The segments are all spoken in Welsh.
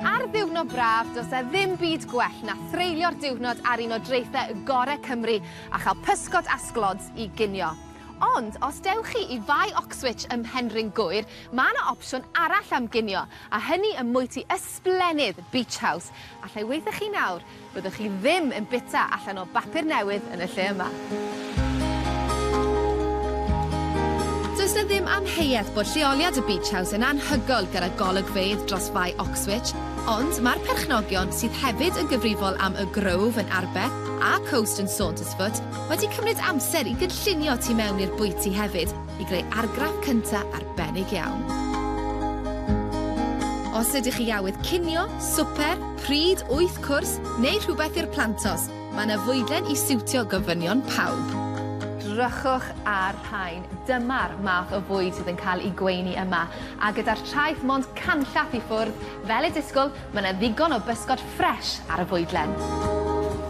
Ar ddiwrnod braf, does 'na ddim byd gwell na threulio'r diwrnod ar un o draethau gorau Cymru a chael pysgod a sglods i ginio. Ond os dewch chi i Fae Oxwich ym Mhenrhyn Gŵyr, mae 'na opsiwn arall am ginio, a hynny ym mwyty ysblennydd Beach House, allai weithio chi nawr Byddwch chi ddim yn bita allan o bapur newydd yn y lle yma. Does 'na ddim amheuaeth bod lleoliad y Beach House yn anhygoel gyda golygfeydd dros Fae Oxwich, ond mae'r perchnogion, sydd hefyd yn gyfrifol am Y Grove yn Arbe a Coast yn Saundersfoot, wedi cymryd amser i gynllunio tu mewn i'r bwyty hefyd i greu argraff cynta arbennig iawn. Os ydych chi awydd cinio, swper, Pryd wyth cwrs neu rhywbeth i'r plantos, mae yna fwydlen i siwtio gofynion pawb. Drychwch ar rhain, dyma'r math o fwyd sydd yn cael ei gweini yma, a gyda'r traeth mond canllath i ffwrdd, fel y disgwl, mae yna ddigon o bysgod ffresh ar y fwydlen.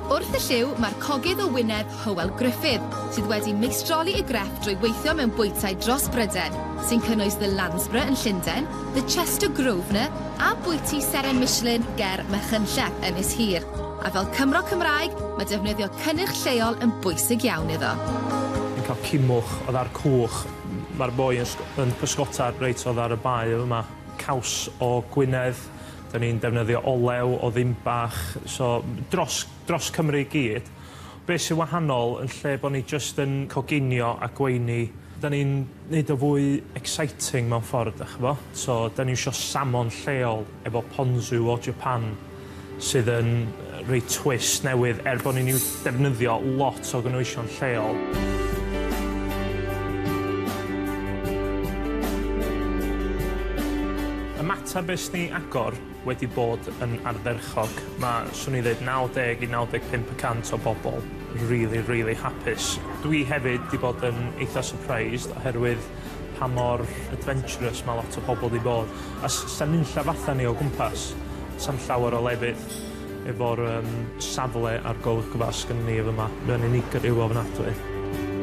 Wrth y llyw mae'r cogydd o wyneb Hywel Gruffydd, sydd wedi meistroli ei grefft drwy weithio mewn bwytai dros Bryden, sy'n cynnwys The Landsborough yn Llundain, The Chester Grosvenor a bwyty seren Michelin ger Machynlleth, Ynys Hir, a fel Cymro Cymraeg mae defnyddio cynnyrch lleol yn bwysig iawn iddo. Yn cael cymwch o ddar cwch. Mae'r boi yn sg- yn pysgota reit o ddar y bae yma. Caws o Gwynedd. Dan ni'n defnyddio olew o Ddinbach. So, dros dros Cymru i gyd. Be' sy wahanol, yn lle bo' ni jyst yn coginio a gweini, Da ni'n neud o fwy exciting mewn ffordd dach ch'bo'? So da ni isio salmon lleol efo ponzu o Japan sydd yn roi twist newydd er bo' ni'n iw- defnyddio lot o gynhwysion lleol. Ymateb es ni agor. wedi bod yn ardderchog. Mae, swn i'n ddeud, 90 i 95 y cant o bobl rili, rili hapus. Dwi hefyd 'di bod yn eitha' surprised oherwydd pa mor adventurous ma' lot o pobl 'di bod, a s- sa'n nunlla fatha ni o gwmpas, sa'm llawer o lefydd. Efo'r yym safle a'r golygfa sgynnon ni y' fyma, mae o'n unigryw ofnadwy.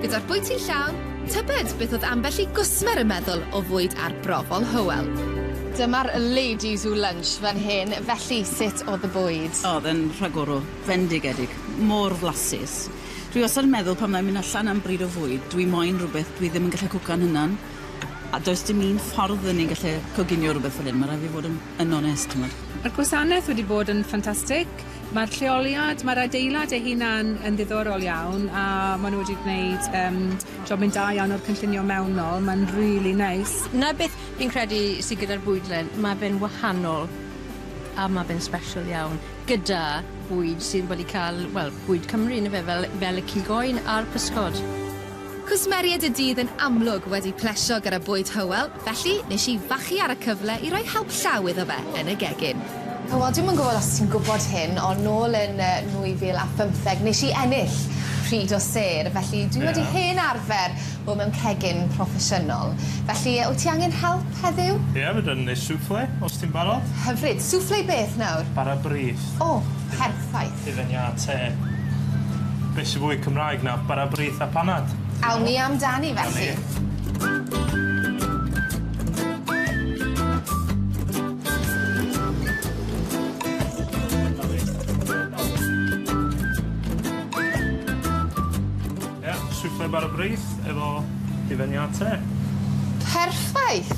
Gyda'r bwyty llawn, tybed beth oedd ambell i gwsmer yn meddwl o fwyd arbrofol Hywel? Dyma'r ladies u lunch fan hyn, felly sut oedd y bwyd? Oedd e'n rhagorol, fendigedig, mor flasus. Dwi wastad yn meddwl pan fyddai'n mynd allan am bryd o fwyd, dwi moyn rhywbeth dwi ddim yn gallu cwcan hunan. A does dim un ffordd y ni'n gallu coginio rhywbeth fel hyn, ma' raid fi fod yn yn onest, t'mod. Ma'r gwasanaeth wedi bod yn ffantastig, ma'r lleoliad, ma'r adeilad ei hunan yn ddiddorol iawn, a ma' nw wedi gwneud yym jobyn da iawn o'r cynllunio mewnol, ma'n rili neis. 'Na beth fi'n credu sy gyda'r bwydlen, ma' fe'n wahanol a ma' fe'n sbeshal iawn, gyda bwyd sydd wedi ca'l, wel, bwyd Cymru yndyfe, fel fel y cig oen a'r pysgod. Cwsmeriaid y dydd yn amlwg wedi plesio gyda bwyd Hywel, felly nes i fachu ar y cyfle i roi help llaw iddo fe yn y gegin. Hywel, dwi'm yn gwybod os ti'n gwybod hyn, ond nôl yn 2015 nes i ennill pryd o sêr, felly dwi wedi hen arfer bod mewn cegin proffesiynol. Felly, wyt ti angen help heddiw? Ie, fedra i wneud souffle, os ti'n barod. Hyfryd. Souffle beth nawr? Bara brith. O, perffaith. Ifeniate. Be' sy fwy Cymraeg na bara brith a panad? Awn ni amdani felly. Awn ni. Ie, bara brith efo Ifeniate. Perffaith!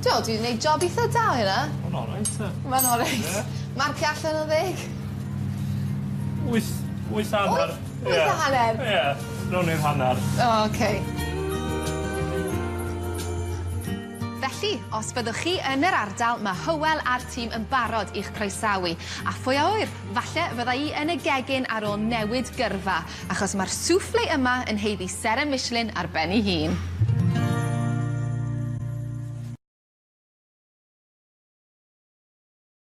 T'wel' dwi 'di neud job itha da o hynna. Ma'n olreit te. Ma'n olreit. Ie. Marcio allan yn ddeg. Wyth, wyth a hanner. Wyth? Wyth a hanner? Ie, ie, rown i'r hanner. O, oce. Felly, os byddwch chi yn yr ardal, ma' Hywel a'r tîm yn barod i'ch croesawu. A phwy a ŵyr, falle fydda i yn y gegin ar ôl newid gyrfa, achos ma'r souffle yma yn haeddu seren Michelin ar ben 'i hun.